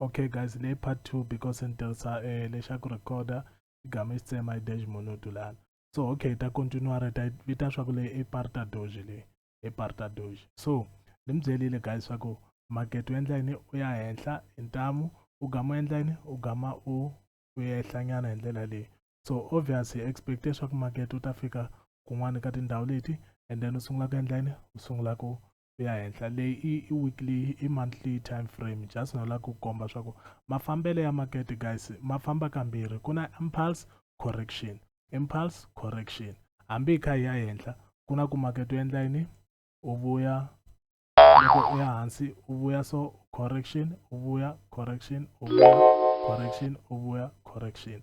okay guys le part 2 because ni tirhisa um eh, lexa ku recorda i gama i xi tsema i dash monodu lana so okay ta continua re ta vita swa ku leyi i parta doge leyi i parta doge so ni mi byelile guys swa ku market u endla yini u ya henhla hi ntamu u gama u endla yini u gama u u ehlanyana hi ndlela leyi so obvious hi expecte swa ku market u ta fika kun'wana ka tindhawu leti and then u sungula ku endla yini u sungula ku ku ya henhla leyi i, i weekly i monthly time frame just no lava ku komba swa ku mafambelo ya makete guys ma famba kambirhi ku na impulse correction impulse correction hambi hi kha hi ya henhla ku na ku makete u endla yini u vuya loko u ya hansi u vuya so correction u vuya correction u vuya correction u vuya correction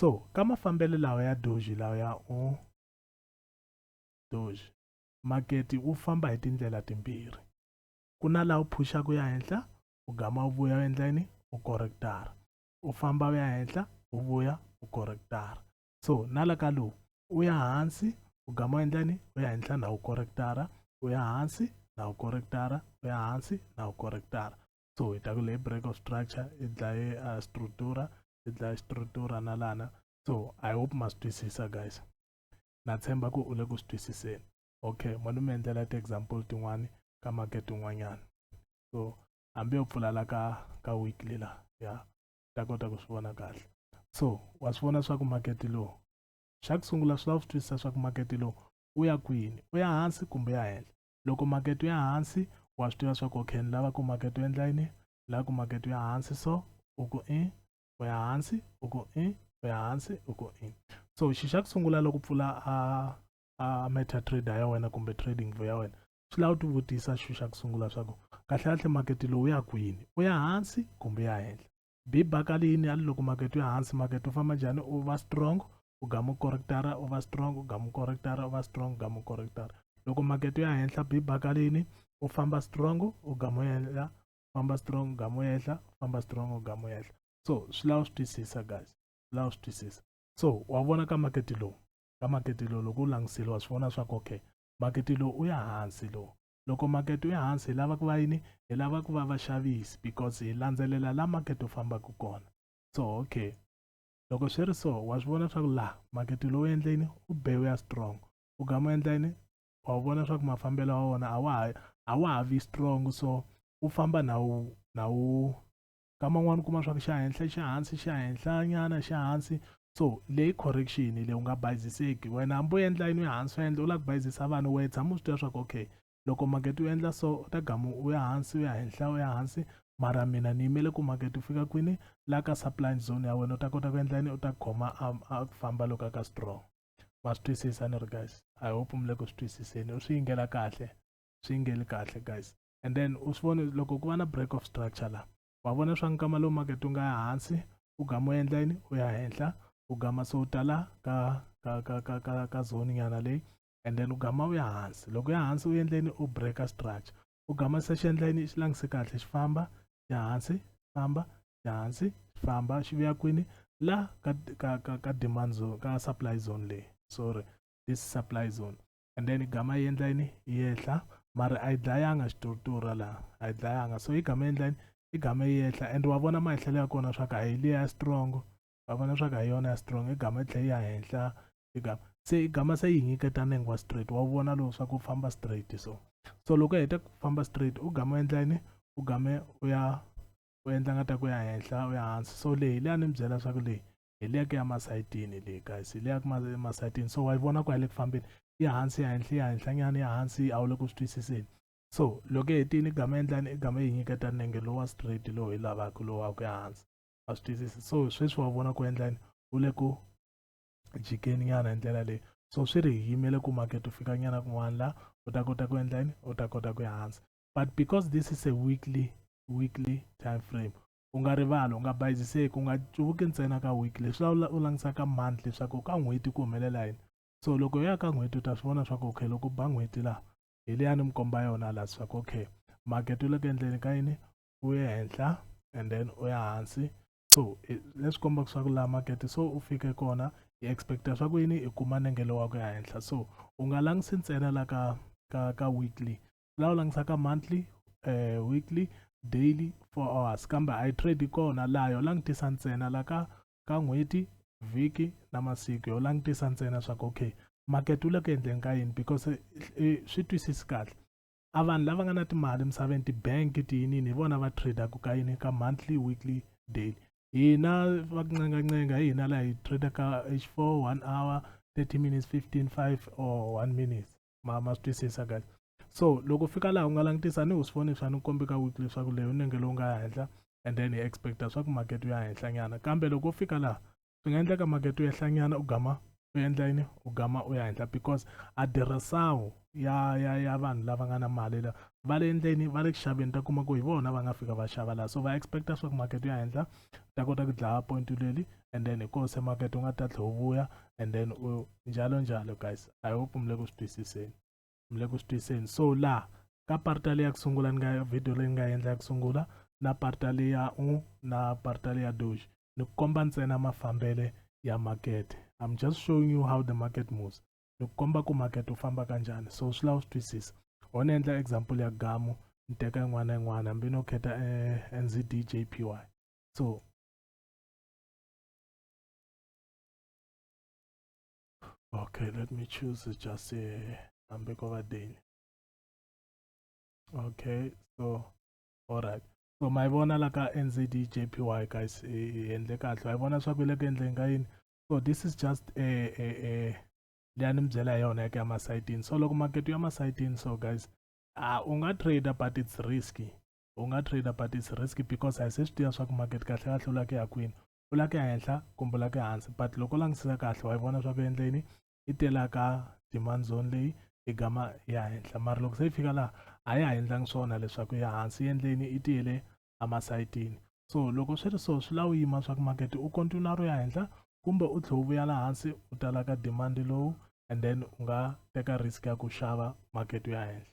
so ka mafambelo lawa ya doji lawa ya u doji maketi wu famba hi tindlela timbirhi ku na laha u phuxaka ya henhla u gama u vuya u endla yini u correctara u famba u ya henhla u vuya u correctara so na la ka lowu u ya hansi u gama u endla yini u ya henhla na u correctara u ya hansi na u correctara u ya hansi na u correctara so hi ta ku leyi break of structure i dlaye a uh, structura i dlaye structura na lana so i hope ma swi twisisa guys na tshemba ku u le ku swi twisiseni okay ma ni mi endlela ti-example tin'wani ka makete un'wanyana so hambi yo pfulala ka ka weekly la ya ta kota ku swi vona kahle so wa swi vona swa ku makete lowu xa ku sungula swi lava swi twisisa swa ku makete lowu u ya kwini u ya hansi kumbe ya henhla loko makete ya hansi wa swi tiva swa ku okay ni lava ku makete u endla yini ni lava ku makete ya hansi so u ku i u ya hansi u ku i u ya hansi u ku i so xi xa ku sungula loko pfula a a meta trader ya wena kumbe trading view ya wena swi lava u ti vutisa xi xa ku sungula swa ku kahle kahle makete lowu ya kwini u ya hansi kumbe ya henhla bi baka leyi ni ya loko market ya hansi market u famba njhani u va strong u gamu correctara u va strong u gamu correctara u va strong u gamu correctara loko market ya henhla bi baka leyini u famba strong u gamu henhla famba strong u gamu henhla famba strong u gamu henhla so swi lava swi twisisa guys swi lava swi twisisa so wa vona ka market lowu ka market lowu loko u langutisile wa swi vona swa ku okay market lowu u ya hansi lowu loko market wu ya hansi hi lava ku va yini hi lava ku va vaxavisi because hi landzelela la market wu fambaka kona so okay loko swi ri so wa swi vona leswaku laha market lowu endleni u be wu ya strong u gama endla yini wa wu vona leswaku mafambelo ya wona a wa ha a wa ha vi strong so wu famba na wu na wu kama un'wana u kuma swa ku xa henhla xa hansi xa henhla nyana xa hansi so leyi correction leyi u nga bayiziseki wena hambi u endla yini ya hansi u endla u lava ku bayizisa vanhu wena tshama u swi tiva swa ku okay loko makete u endla so u ta gamu u ya hansi u ya henhla u ya hansi mara mina ni yimele ku makete u fika kwini la ka supply zone ya wena u ta kota ku endla yini u ta khoma a ku famba loko a ka strong ma swi twisisa ni ri guys i hope mi le ku swi twisiseni u swi yingela kahle swi yingeli kahle guys and then u swi vona loko ku va na break of structure la wa vona swa nkama lowu makete u nga ya hansi u gama u endla yini u ya henhla u gama se u tala ka ka ka ka ka ka zone nyana leyi and then u gama u ya hansi loko ya hansi u endleni u breaker structure u gama se xi endla yini xi langise kahle xi famba ya hansi famba ya hansi famba xi vuya kwini la ka ka ka ka demand zone ka supply zone leyi sorry this supply zone and then igama yendla yini iyehla mara ayidlayanga xituruturu laha ayidlayanga so igama yendla yini igama iyehla and wa vona mahehlelo ya kona swa ku a hi liya ya strong wa vona swa ku a hi yona ya strong igama yi tlhe ya henhla igama se igama se yi nyiketa nenge wa straight wa vona lowu swa ku famba straight so so loko hi heta ku famba straight u game endla yini u game u ya u endla nga ta ku ya henhla u ya hansi so leyi leyi a ni mi byela swa ku leyi hi liya ku ya masayitini le guys hi liya ku masayitini so wa yi vona ku ya le ku fambeni ya hansi ya henhla ya henhlanyana ya hansi a wu le ku swi twisiseni so loko hetini gama endlani igama yi nyiketa nenge lowa straight lowu hi lavaka lowu wa ku ya hansi a swi twisisi so sweswi wa vona ku endlani u le ku jikeni nyana hi ndlela leyi so swi ri yimele ku makete u fika nyana kun'wana la u ta kota ku endla yini u ta kota ku ya hansi but because this is a weekly weekly time frame u nga rivali u nga bayiziseki u nga cuvuki ntsena ka week leswi u langutisa ka month leswaku ka n'hweti ku humelela yini so loko u ya ka n'hweti u ta swi vona swaku okay loko ba n'hweti laha hi leya ni mi komba yona laha swaku okay makete u le ku endleni ka yini u ye henhla and then u ya hansi so leswi kombaka swaku laha makete so u fike kona hi expecta swaku yini i kuma nengelo wa ku ya henhla so u nga langutisi ntsena la ka ka ka weekly laha u langisaka monthly uh, weekly daily four hours kambe a yi trade kona laha yo langutisa ntsena la ka ka n'hweti vhiki na masiku yo langutisa ntsena swa ku okay market wu le ku endleni ka yini because eh, eh, swi twisisi kahle a vanhu lava nga na timali emisaveni ti-bank tiyinini hi vona va tradaka ka yini ka monthly weekly daily hina va ku ncengancenga hi hina laha hi tradaka h four one hour thirty minutes fifteen five or one minutes ma ma swi twisisa guys so loko fika laha u nga langutisa ni usifoni swa ni kombi ka week leswaku leyi u nenge lowu nga ya henhla and then hi expecta swa ku market u ya henhla nyana kambe loko u fika laha swi nga endleka market u yehla nyana u gama u endla yini u gama u ya henhla because adirhasawu ya ya ya vanhu lava nga na mali la va le endleni va le ku xaveni ta kuma ku hi vona va nga fika va xava laha so va expecta swa ku market u ya henhla ta kota ku dlaya point leli and then hi koho se makete u nga ta tlhela u vuya and then u njalo njalo guys i hope mi le ku swi twisiseni mi le ku swi twisiseni so laha ka parta leyi ya ku sungula ni nga video leyi ni nga endla ya ku sungula na parta leyi ya u na parta leyi ya doji ni komba ntsena mafambele ya makete i'm just showing you how the market moves ni komba ku market wu famba kanjhani so swi lava u swi twisisa ho ni endla example ya gamu ni teka yin'wana na yin'wana hambi no kheta eh, nzd jpy so okay let me choose just a hambi ko va deni okay so all right so ma yi vona la ka nzd jpy guys hi endle kahle wa yi vona swa ku yi le ku endleni ka yini so this is just a, a, a leya ni mi byela hi yona yaka ya masayitini so loko makete ya masayitini so guys uh, u nga trader but it's risky u nga trader but its risk because a hi se swi tiva swa ku market kahle kahle u la ku ya kwini u la ku ya henhla kumbe u la ku ya hansi but loko u langutisisa kahle wa yi vona swa ku endleni yi telaka demand zone leyi yi gama ya henhla mara loko se yi fika laha a ya ha endlangi swona leswaku ya hansi yi endleni yi tiyele emasayitini so loko swi ri so swi la u yima swa ku market u continua ro ya henhla kumbe u tlhe u vuya la hansi u talaka demand lowu and then u nga teka risk ya ku xava market u ya henhla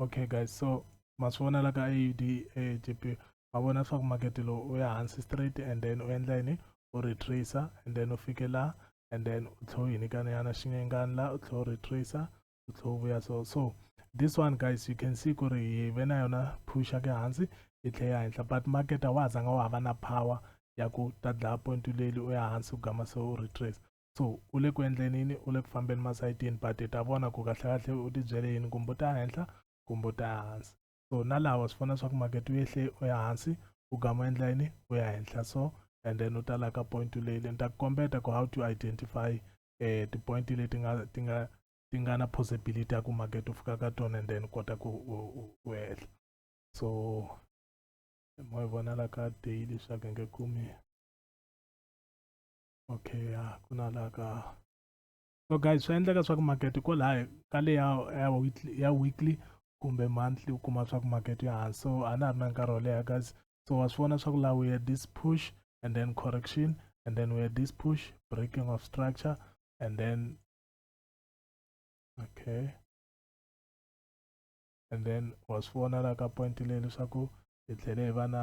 okay guys so ma swi vona la ka aud jp ma vona leswaku makete lowu u ya hansi straight and then u endla yini u retracer and then u fike la and then u tlhe u yinikanyana xinyengani la u tlhe u retracer u tlhe u vuya so so this one guys you can see ku ri hi ve na yona phusha ke hansi yi tlhe ya henhla but makete wa ha zanga wa ha va na power ya ku ta dlaya point leli u ya hansi ku gama se u retracer so u le ku endleni yini u le ku fambeni masayitini but i ta vona ku kahlekahle u tibyele yini kumbe u ta henhla kumbe u ta ya hansi so na lawa swi fana swa ku makete u yehle u ya hansi u gama u endla yini u ya henhla so and then u ta la ka point leyi le ni ta ku kombeta ku how to identify um ti-point leti nga ti nga ti nga na possibility ya ku makete u fika ka tona and then kota ku u hehla so mo yi vona la ka daily swa ku nge kumi okay ya ku na la ka so guys swi endleka swa ku market ko laha ka le ya ya weekly ya weekly kumbe monthly u kuma swa ku market ya hansi so a na ha ri na nkarhi wo leha guys so wa swi vona swa ku laha we had this push and then correction and then we had this push breaking of structure and then okay and then wa swi vona la ka point leyi leswaku hi tlhele hi va na